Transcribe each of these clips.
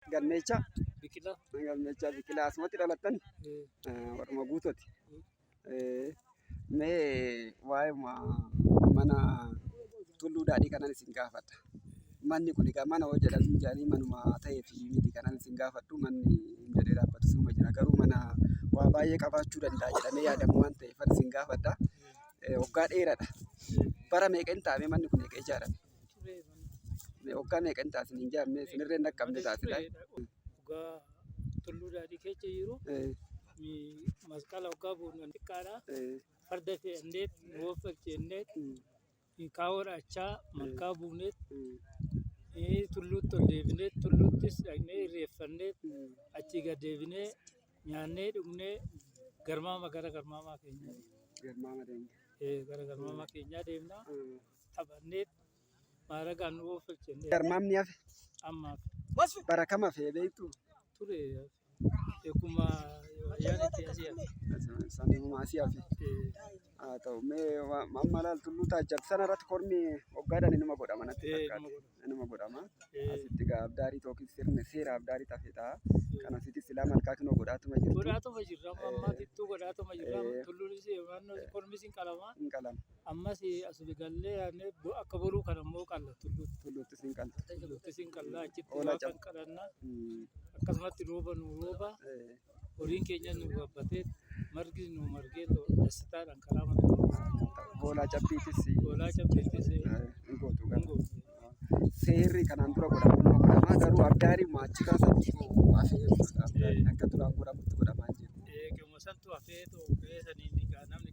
Galmeecha. Biqilaa. Galmeecha biqilaa asumatti dhalattan warruma guutooti. Mee waa'ee mana tulluu daadhii kanan isin gaafadha. Manni kun egaa mana hojii jedhamu jedhanii manuma ta'ee fi miti kanan isin gaafadhu manni hin jedhee dhaabbatu suma jira garuu mana waa baay'ee qabaachuu danda'a jedhamee yaadamu waan ta'eef isin gaafadha. Waggaa dheeraadha. Bara meeqa hin taa'amee manni kun egaa ijaarame? Waggaa meeqa hin taasin hin jaamne sinirree hin dhaqqabne taasidha. Dhugaa tulluu daadhii keessa jiru masqala waggaa buunan xiqqaadha. Farda fe'anneet nu waffaqseenneet kaawwan achaa malkaa buuneet tulluutti ol deebineet tulluuttis dhaqnee irreeffanneet achii gad deebinee nyaannee dhugnee garmaama gara garmaamaa keenyaa deemna. Garmaama deemna. Gara garmaamaa keenyaa deemna. Taphanneet maaragaan nu oofachenne. Garmaam ni hafe. Ammaaf. Bara kam hafee beektu? Ture eeguma yaanitti asii hafe. Sanuma asii hafe. Haa ta'u mee mammalaal tulluu taajjabbi sana irratti kormi waggaadhaan inuma godhama natti fakkaata. nama godhama asitti gaa abdaarii tookiin sirna seera abdaarii tafe ta'a kan asitti silaa malkaa kinoo godhaatuma jirtu godhaatuma jirra amma ammaa tittuu godhaatuma jirra tulluunis naannoo kormis hin qalama hin qalama ammas as gallee yaadne akka boruu kan ammoo qalla tulluutti tulluuttis hin qalta tulluuttis hin qalla achitti Oola waan cab- kan qalanna akkasumatti rooba nu rooba horiin keenyas nu gabbatee margis nu margee too dassitaadhaan karaa mana Boolaa cabbiitis boolaa cabbeettis eh, hin gootu hin garuu. gootu. Seerri kanaan dura godhamu nama godhama garuu abdaariin maachi kaasatti hafee abdaariin akka duraan godhamutti godhamaa jiru. Eh, Qeemuma santu hafee too gahee saniin egaa namni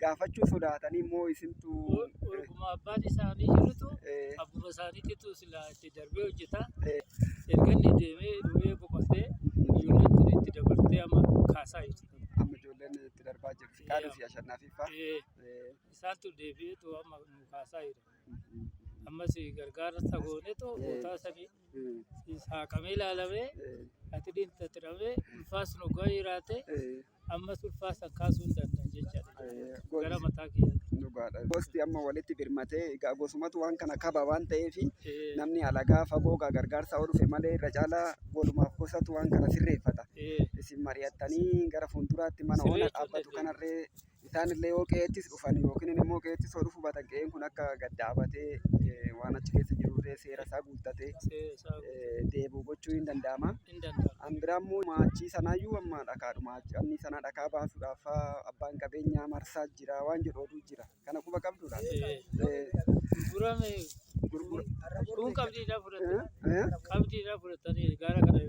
gaafachuu sodaatanii immoo isintu Orguma abbaan isaanii jirutu eh, abbuma isaaniititu silaa itti darbee hojjeta. eh, Erga inni deemee dhufee boqotee ijoolleen tun itti dabartee amma kaasaa jirti. amma ijoolleen itti darbaa jiru fiqaaduu fi ashannaafiffaa Eh, Eh, Isaantu deebi'eetu amma nu kaasaa jira. mhm, Ammas gargaarsa goonetu Eh. bootaa sanii mhm, saaqamee ilaalamee eh, ati dhiinta tiramee ulfaas nu ga'aa jiraate eh, Ammas ulfaa san kaasuu hin danda'an jechaadha Ee, jechuudha. gooti. Gara mataa kiyyaatti. Dhugaadha. Gosti amma walitti birmatee egaa gosumatu waan kana qaba waan ta'eef Ee, namni alagaa fagoo egaa gargaarsaa yoo dhufe malee irra caalaa godhumaaf gosatu waan kana sirreeffata. ee, Isin mari'attanii gara fuulduraatti mana Siree ona jechuun dhaabbatu dandeenye. kanarree Isaan illee yoo qe'eettis dhufan yookiin immoo qe'eettis yoo dhufu baatan qe'een kun akka gad dhaabatee eh, waan achi keessa jiru illee seera isaa guuttatee eh, deebi'u gochuu hin danda'ama. An biraa immoo maachii sanaayyuu amma dhakaadhuma anni sanaa dhakaa baasuudhaaf faa abbaan qabeenyaa marsaa jira waan jedhu oduu jira. Kana quba qabdu laata? Eh, Gurgurame gurgura- kun qabdiidhaa fudhatan. eh, eh, Qabdiidhaa fudhatanii gaara kana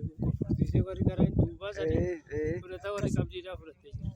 qofsiisee warri gara duubaa sanii eh, eh. fudhata warri qabdiidhaa fudhatee jira.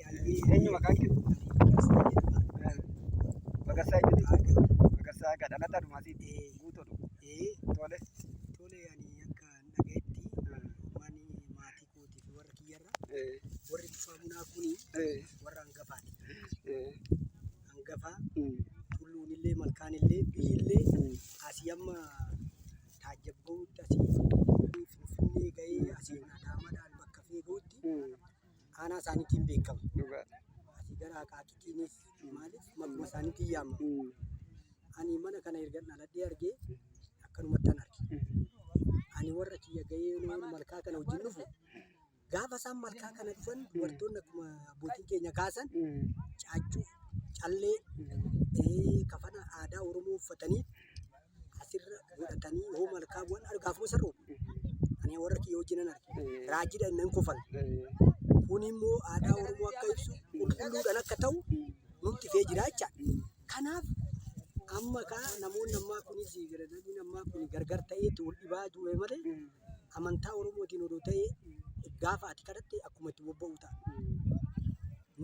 Eenyu maqaan kee? Magarsaa jechuudha. Magarsaa egaa dhalataa dhumaa siiti. Guutoodha. Tole. Tole ani akka hin dhagayetti ummaan maatii kootii fi warra kiyyarra warri tufaa bunaa kun warra hangafaati. Hangafaa tulluun illee malkaan illee biyyi illee asii amma taajjabbaa'utti asii finfinnee gahee asii nadaamadhaan bakka feegahutti aanaa isaaniitiin beekama. Dhugaa. Asii gara Aqaaqiitiinis maaliif maquma isaaniitiin yaamama. Mm. Ani mana kana erga dhaladhee argee akkanumatti an arge. Ani warra kiyya gahee waan malkaa kana wajjin dhufu gaafa isaan malkaa kana dhufan dubartoonni akkuma abbootiin keenya kaasan Mm. caaccuu, callee, eh, kafana aadaa Oromoo uffatanii asirra godhatanii hoo malkaa bu'an argaaf moo sar'u ani warra kiyya wajjinan arge raajidha innan kofala kun immoo aadaa oromoo akka ibsu qulqulluudhaan akka ta'u nutti fee jiraacha kanaaf amma kaa namoonni ammaa kunis garagaraa ammaa kun gargar ta'eetti wal dhibaa ture malee amantaa Oromootiin odoo ta'ee gaafa ati kadhatte akkuma itti bobba'u ta'a.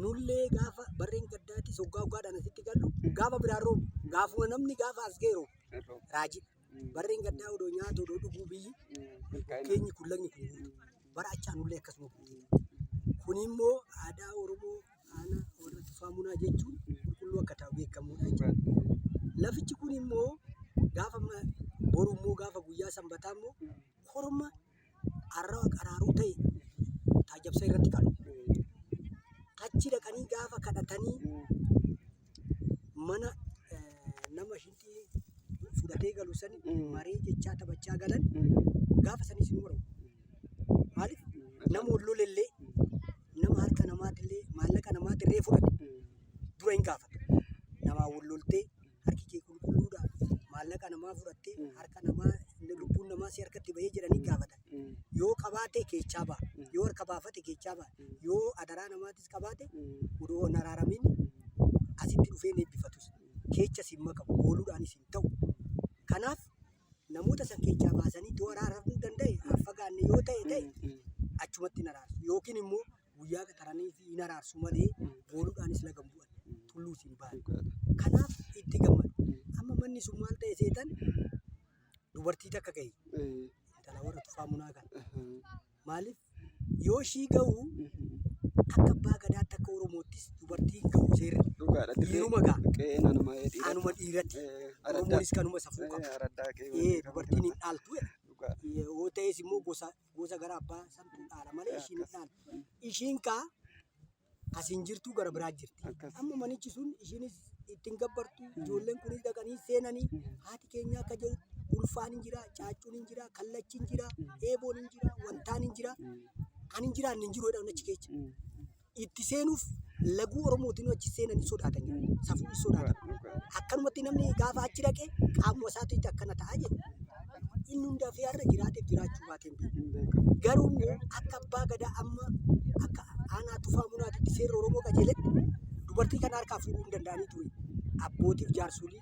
Nullee gaafa barreen gaddaatis hoggaa hoggaadhaan asitti gallu gaafa biraan roobu gaafuma namni gaafa as ga'e roobu raajii. Barreen gaddaa odoo nyaatu odoo dhuguu biyyi keenyi kun lagni kun guutu. Bara achaa nullee akkasuma guutu. Kun immoo aadaa Oromoo Aanaa warra Tufaa Munaa jechuun qulqulluu akka ta'u beekamuudha jechuudha. Lafichi kun immoo gaafa ma- boru immoo gaafa guyyaa sanbataa immoo korma arrawa qaraaruu ta'e taajabsa irratti qalu. Achi dhaqanii gaafa kadhatanii mana nama shilxii fudhatee galu sani maree jechaa taphachaa galan gaafa sanis nu bara maaliif nama wal lolellee nama harka namaatillee maallaqa namaatillee fudhate dura hin gaafata namaa wal loltee harki kee qulqulluudha maallaqa namaa fudhattee harka namaa lubbuun namaa si harkatti bahee jedhanii gaafatan Yoo qabaate keechaa ba'a. Yoo harka baafate keechaa ba'a. Yoo adaraa namaatis qabaate odoo hin araaramiin asitti dhufee hin eebbifatus. Keecha siin makamu ooluudhaan isin ta'u. Kanaaf namoota san keechaa baasanii yoo araaramuu danda'e hin fagaanne yoo ta'e ta'e achumatti hin araarsu. Yookiin immoo guyyaa qaxaranii fi hin araarsu malee ooluudhaanis laga hin bu'an. Tulluus hin ba'an. Kanaaf itti gammadu. Amma manni sun maal ta'e seetan dubartii takka gahi intala warra tufaa munaa kan maaliif yoo ishii gahu akka abbaa gadaatti akka oromoottis dubartii gahu seerri Dhugaadha. Dhiiruma gaa. Qe'een anuma dhiira. anuma dhiiratti Araddaa. oromoonis kanuma safuu qaba Araddaa qe'ee Ee, waliin dubartiin hin dhaaltu jedha. Dhugaadha. yoo ta'es immoo gosa gosa gara abbaa santu dhaala malee ishiin hin dhaalu. Ishiin kaa As hin jirtuu gara biraa jirti. Akkas. Amma manichi sun ishiinis ittiin gabbartu ijoolleen kunis dhaqanii seenanii haati keenya akka jedhutti ulfaan hin jira, caaccuun hin jira, kallachi hin jira, eeboon hin jira, wantaan hin jira. Kan hin jiraanne hin jiru jedhan achi keessa. Itti seenuuf laguu Oromootiin achi seenan hin sodaatan jedhu. Safuu hin sodaatan. Akkanumatti namni gaafa achi dhaqe qaamuma isaatiitti akkana ta'a jedhu. inni hunda fi har'a jiraateef jiraachuu baateen beeku. Garuu immoo akka abbaa gadaa amma akka aanaa tufaa munaatitti seerri Oromoo qajeeletti dubartii kana harkaa fuudhuu hin danda'anii ture. Abbootiif jaarsolii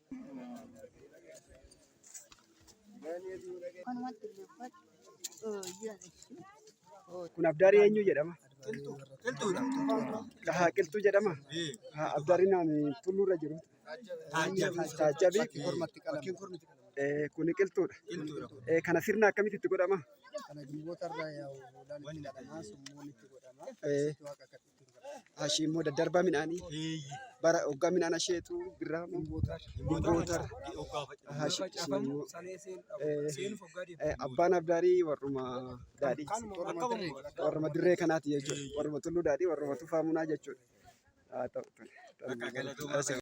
Kun abdaari eenyu jedhama? Dhahaa qilxuu jedhama? Haa abdaari naani tulluurra jiru. Taajjabii. Eh, Kuni qilxuudha. Eh, Kana sirna akkamitti itti godhama? Eh, Ashii immoo daddarbaa midhaanii bara hoggaa midhaan asheetu birraa immoo bootar ashii sun immoo eh, abbaan abdaarii warruma daadhii warruma dirree kanaati jechuudha warruma tulluu daadhii warruma tufaa munaa jechuudha. Haa ta'u tole. Tole.